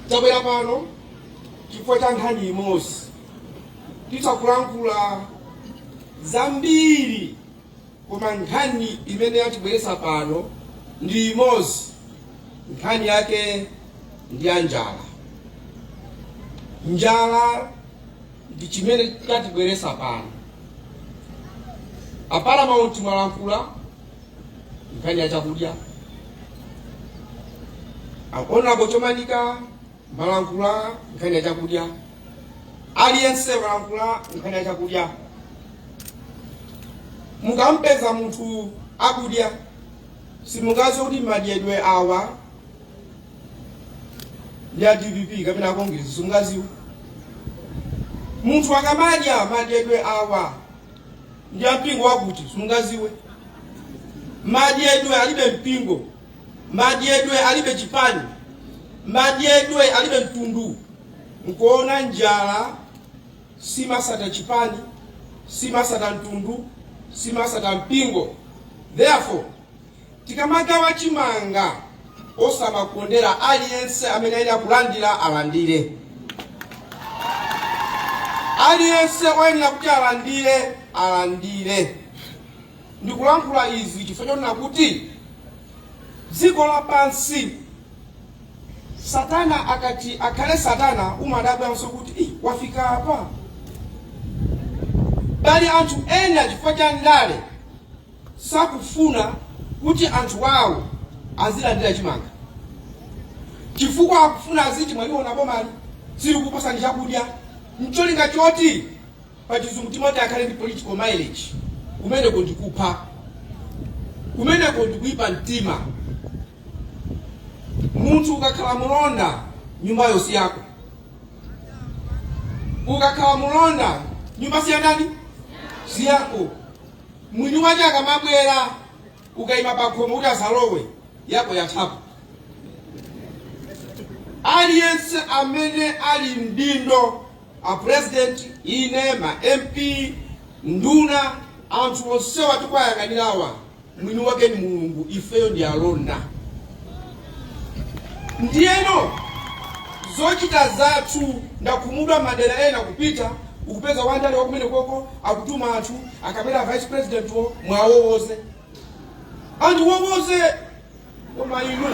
tabwera pano chifukwa cha nkhani imodzi titha kulankhula zambiri koma nkhani imene yatibweretsa pano ndi imodzi nkhani yake ndi ya njala njala ndi chimene chatibweretsa pano aparamount mwalankhula nkhani ya chakudya honorable chomanika mwalankhula nkhani ya chakudya aliyense mwalankhula nkhani ya chakudya mukampeza munthu akudya simungaziwe kuti madyedwe awa ndi a dpp kapena akongezi simungaziwe munthu akamadya madyedwe awa ndi a mpingo wakuti simungaziwe madyedwe alibe mpingo madyedwe alibe chipani madyedwe alibe mtundu nkuona njala simasata chipani simasata mtundu simasata mpingo therefore Tikamagawa chimanga osamakondera aliyense amene ayenera kulandira alandire. Aliyense oyenera kuti alandire alandire. Ndikulankhula izi chifukwa chonena kuti dziko lapansi Satana akati akhale Satana umadabwanso kuti "Ih, wafika apa." Pali anthu ena chifukwa cha ndale sakufuna kuti anthu awo azilandira chimanga chifukwa akufuna aziti mwaliona bomali silikukupasani chakudya ncholinga choti pachizungu timati akhale ndi political mileage kumeneko ndikupha kumeneko ndikuipa mtima munthu ukakhala mulonda nyumbayo si yako ukakhala mulonda nyumba si ya ndani si yako mwini wake akamabwera ukaima pakhomo kuti asalowe yako yathapo aliyense amene ali mdindo a president ine ma mp nduna anthu onsewa tikuwayang'anirawa mwini wake ni mulungu ifeyo ndi alonda ndiyeno zochita zathu ndakhumudwa madera ena kupita ukupeza wandale wakumenekoko akutuma anthu akabwera vice president wo muwawowoze anthu owowoza koma inu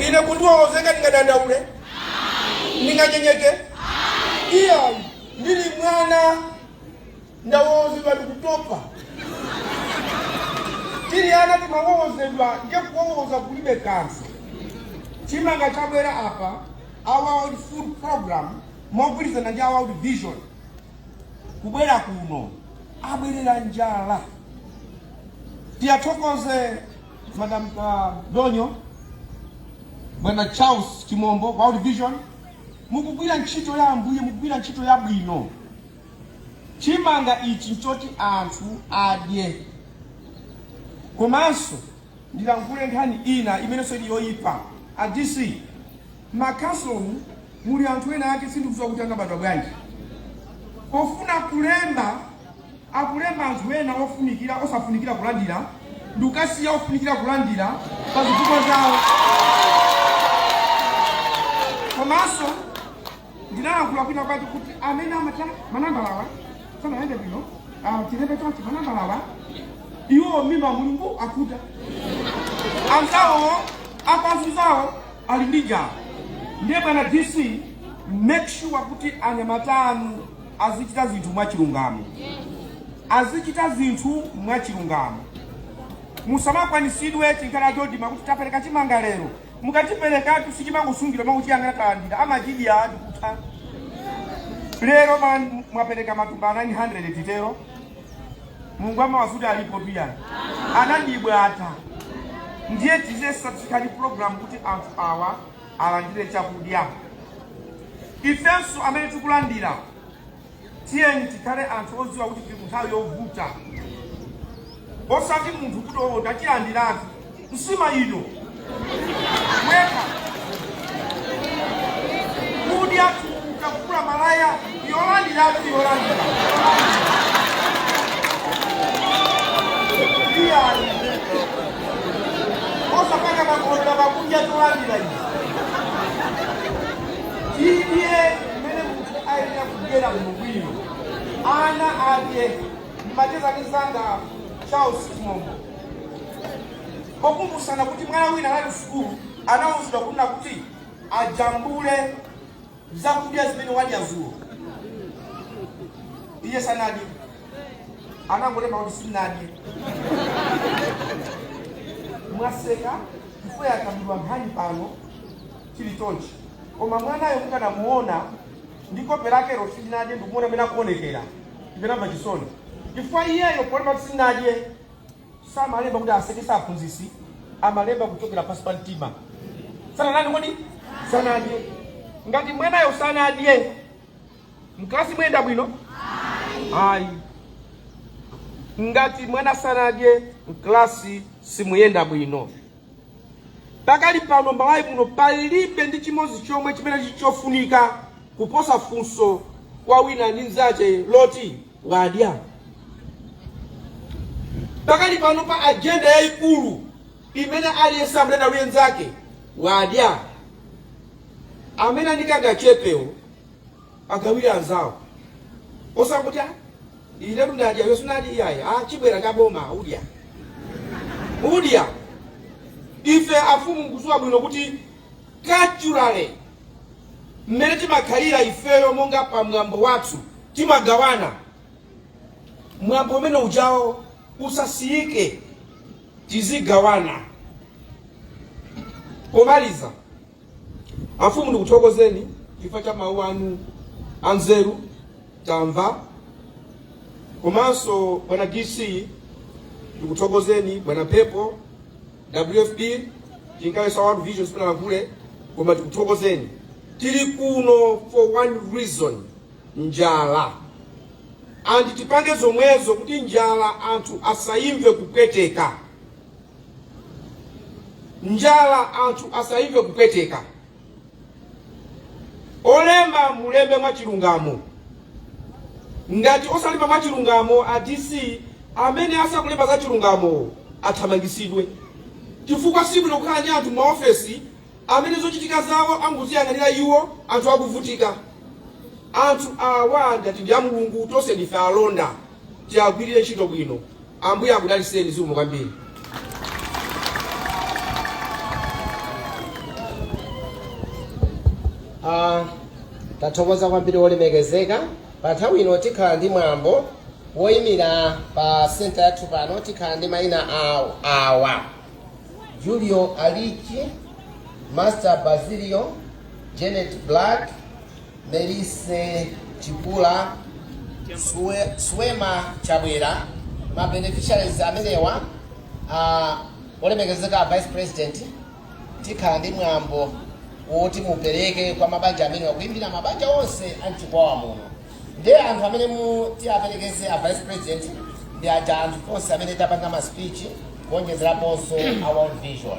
ine kundiwowoza ndingadandaule ndinganyenyeke iyayi ndili mwana ndawowozedwa ndikutopa tili ana timawowozedwa nde kuwowoza kulibe komanso chimanga chabwera apa a world food program mogwirizana ndi a world vision kubwera kuno abwerera njala tiyathokoze madam uh, donyo bwana charles chimombo world vision mukugwira ntchito ya ambuye mukugwira ntchito yabwino Chimanga ichi nchoti anthu adye. Komanso ndilankhule nkhani ina imenenso ili yoipa. A DC, m'makhansolomu muli anthu ena ake sindikudziwa kuti anabadwa bwanji. Pofuna kulemba, akulemba anthu ena ofunikira osafunikira kulandira ndikukasiya ofunikira kulandira pa zifukwa zawo. Komanso ndinalankhula kwinakwake kuti amene amata manambalawa sanayende bwino ah, tilembe chonchi manambalawa iwo mimba mulungu akuta anzawo akazi awo ali ndi njala ndiye bwana dc make sure kuti anyamata anu azichita zinthu mwachilungamo azichita zinthu mwachilungamo musamakwanisidwe chinkhala choti ma kuti tapereka chimanga lero mukatipatsatu sichimangosungira akuchiyang'ana talandira amachidya ati kutha lero mwapereka matumba 900 titero mulungu amawona kuti alipo tuyani anandibwata ndiye tizesatikali program kuti anthu awa alandire chakudya ifenso amene tikulandira tiyeni tikhale anthu odziwa kuti tili munthawi yovuta osati munthu kuti oo tatilandiratu nsima ino yekha kudya tukuta kukula malaya yolandiratu yolandira iyayi osapanga makondera pakudya tolandira izi tidye mmene munthu ayenera kudyera bwinobwino ana adye ndimacheza ndi mzanga charles chimombo pokumbusana kuti mwana wina anali sukulu anawuzidwa kunena kuti ajambule zakudya zimene wadya dzulo iye sanadye anangolemba kuti sindinadye mwaseka chifukwa yakambidwa nkhani pano chili chonchi koma mwanayo mukanamuona ndi kope lakelo sindinadye ndikumuona amene akuonekera ndinamva chisoni chifukwa iyeyo polemba kuti sindinadye samalemba kuti asekesa aphunzitsi amalemba kuchokera pansi pa mtima sananame kodi sanadye ngati mwanayo sanadye mklasi mwenda bwino ayi ngati mwana sanadye mklasi simuyenda bwino Pakali pano Malawi muno palibe ndi chimodzi chomwe chimene chili chofunika kuposa funso kwa wina ndi mzache loti wadya. Pakali pano pa ajenda yayikulu imene aliyense amene ali naye mzake wadya amene ali ndi kangachepewo agawire anzawo osakuti ine ndadya iwe sunadye iyayi ah, chibwera cha boma udya udya ife afumu mukudziwa bwino kuti culturally mmene timakhalira ifeyo monga pa mwambo wathu timagawana mwambo umene ujawo usasiyike tizigawana pomaliza Afumu, ndikuthokozeni chifukwa cha mawu anu anzeru tamva, komanso bwana DC ndikuthokozeni, bwana Pepo WFP chingakhale za World Vision simunalankhule, koma tikuthokozeni. Tili kuno for one reason, njala and tipange zomwezo kuti njala anthu asayimve kupweteka. njala anthu asaimve kupweteka olemba mulembe mwachilungamo ngati osalimba mwachilungamo a dc amene asakulemba za chilungamo athamangisidwe chifukwa sibwino kukhala ndi anthu maofesi amene zochitika zawo angoziyang'anira iwo anthu akuvutika anthu awa ngati ndi a mulungu tonse ndife alonda tiagwirire ntchito bwino Ambuye akudaliseni zikomo kwambiri. Ah, tathokoza kwambiri wolemekezeka pa nthawi ino tikhala ndi mwambo woyimira pa senta yathu pano tikhala ndi mayina awa julio alichi master basilio janet black Melise Chipula, Suwema Chabwera, ma beneficiaries amenewa a olemekezeka a vice president tikhala ndi mwambo woti mupereke kwa mabanja amenewa kuimira mabanja onse a mchikwawa muno ndiye anthu amene tiaperekeze a vice president ndi aja anthu onse amene tapanga ma speech kuonjezeraponso a world vision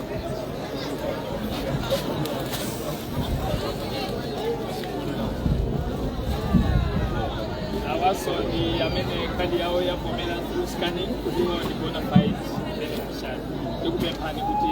awaso ndi amene kadi yawo yavomera through scanning kuti iwo ndi bona fide beneficiary ndikupemphani kuti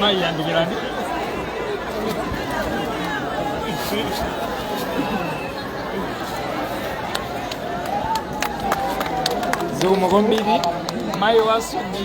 Mayi yandikirani. Zikomo kwambiri. Mayi wasu ndi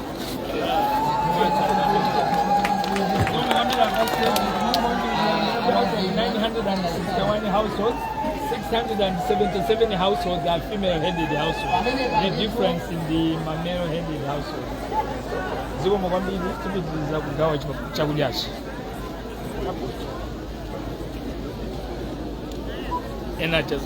households, 677 households are female-headed households. The difference in the male-headed households. zikomo kwambiri tipitiriza kugawa chak- chakudyachi ena teza